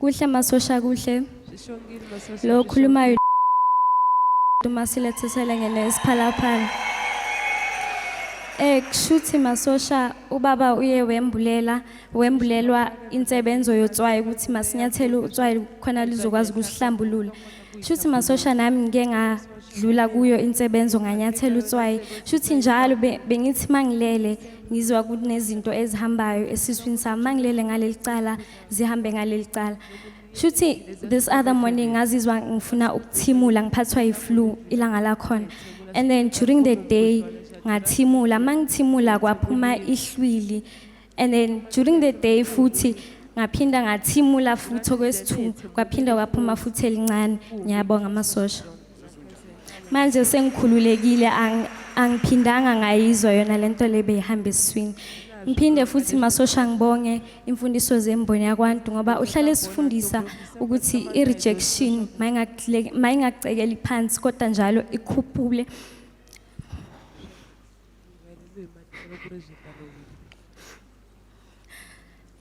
Kuhle masosha kuhle. Sishongile masosha. Lo khulumayo uma silethesele ngene isiphalaphala. Eh kushuthi masosha ubaba uye wembulela wembulelwa insebenzo yotswayi ukuthi masinyathele utswayi khona lizokwazi ukusihlambulula. Shuthi masosha nami ngike nga dlula kuyo insebenzo nganyathela utswayi shuthi njalo bengithi mangilele ngizwa kunezinto ezihambayo esiswini sami mangilele ngaleli cala zihambe ngaleli cala shuthi this other morning ngazizwa ngifuna ukuthimula ngiphathwa yiflu ilanga lakhona and then during the day ngathimula mangithimula kwaphuma ihlwili and then during the day futhi ngaphinda ngathimula futhi okwesithu kwaphinda kwaphuma futhi elincane ngiyabonga amasosha manje sengikhululekile ang- angiphindanga ngayizwa yona le nto le beyihamba esiswini ngiphinde futhi masosha ngibonge imfundiso zemboni yakwantu ngoba uhlale esifundisa ukuthi i-rejection mayingakule- mayingacekeli phansi kodwa njalo ikhuphule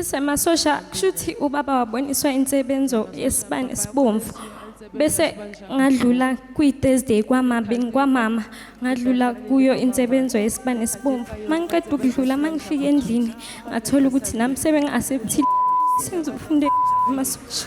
semasosha kusho ukuthi ubaba waboniswa insebenzo yesibani esibomvu bese ngadlula kwi-thursday kwamabini kwamama ngadlula kuyo insebenzo yesibani esibomvu uma ngiqeda ukudlula uma ngifika endlini ngathola ukuthi nami sebengi-asepthile sengizofunde amasosha